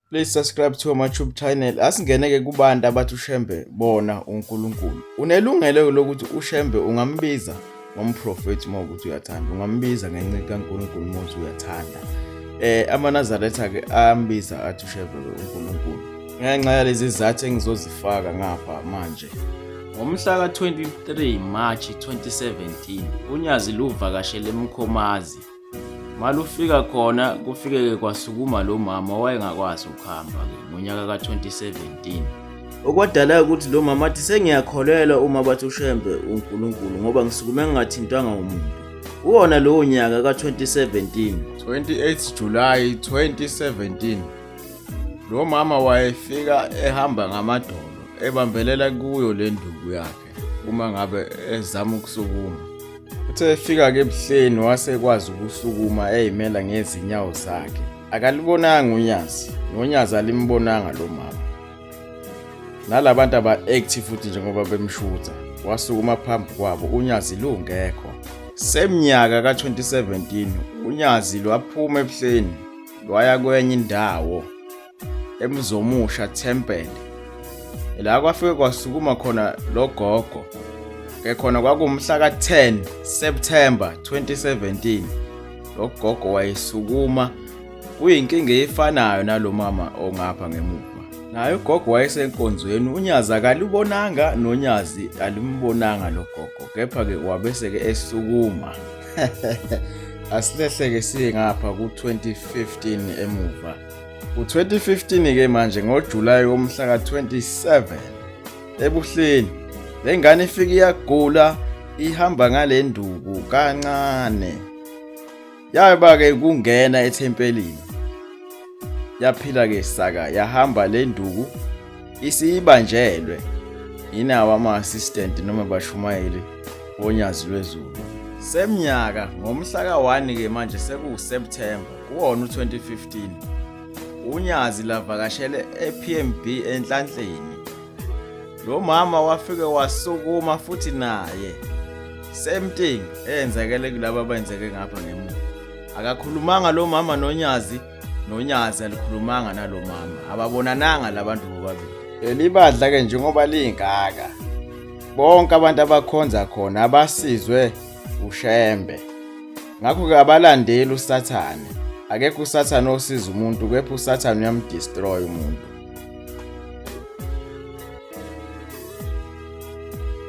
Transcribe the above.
Please subscribe to my YouTube channel. Asingeneke kubantu abathi uShembe bona uNkulunkulu. Unelungelo lokuthi uShembe ungambiza ngomprofethi uma ukuthi uyathanda. Ungambiza ngenceku kaNkulunkulu uma uthi uyathanda. Eh amanazaretha ke ambiza athi uShembe uNkulunkulu. Ngenxa yalezi zizathu engizozifaka ngapha manje. Ngomhla ka-23 March 2017, uNyazi luvakashele eMkhomazi Malufika khona kufikeke kwasukuma lo mama owayengakwazi ukuhamba-ke ngonyaka ka-2017 okwadala ukuthi lo mama athi sengiyakholelwa uma bathi ushembe unkulunkulu ngoba ngisukume ngingathintwanga umuntu kuwona lowo nyaka ka-2017 28 July 2017 lo mama wayefika ehamba ngamadolo ebambelela kuyo le nduku yakhe uma ngabe ezama ukusukuma uthe efika-ke ebuhleni wase ekwazi ukusukuma eyimela ngezinyawo zakhe akalibonanga unyazi nonyazi alimbonanga lo mama nala bantu aba-active futhi njengoba bemshutha wasukuma phambi kwabo unyazi lungekho semnyaka ka-2017 unyazi lwaphuma ebuhleni lwaya kwenye indawo eMzomusha Temple la kwafike kwasukuma khona logogo ke khona kwakumhla ka-10 September 2017 logogo wayesukuma kuyinkinga efanayo nalomama ongapha ngemuva naye ugogo wayesenkonzweni unyazi akalibonanga nonyazi alimbonanga lo gogo kepha-ke wabese-ke esukuma asilehleke siye ngapha ku-2015 emuva U-2015 ke manje ngoJulayi womhla ka-27 ebuhleni le ngane ifike iyagula ihamba ngale nduku kancane yaba ke kungena ethempelini yaphila ke saka yahamba le nduku isiyibanjelwe yinawo ama-assistant noma bashumayeli onyazi lwezulu semnyaka ngomhla ka-1 ke manje sekuwuseptemba Kuwona u-2015 uNyazi lavakashele ePMB enhlanhleni. Lo mama wafike wasukuma futhi naye same thing eyenzekele kulaba abayenzeke ngapha ngemuva. Akakhulumanga lo mama noNyazi noNyazi alikhulumanga nalo mama. Ababonananga labantu bobabili. Elibadla ke njengoba lingaka bonke abantu abakhonza khona abasizwe uShembe. Ngakho-ke abalandeli uSathane. Akekho uSathane osiza umuntu kepha uSathane uyamdestroy umuntu.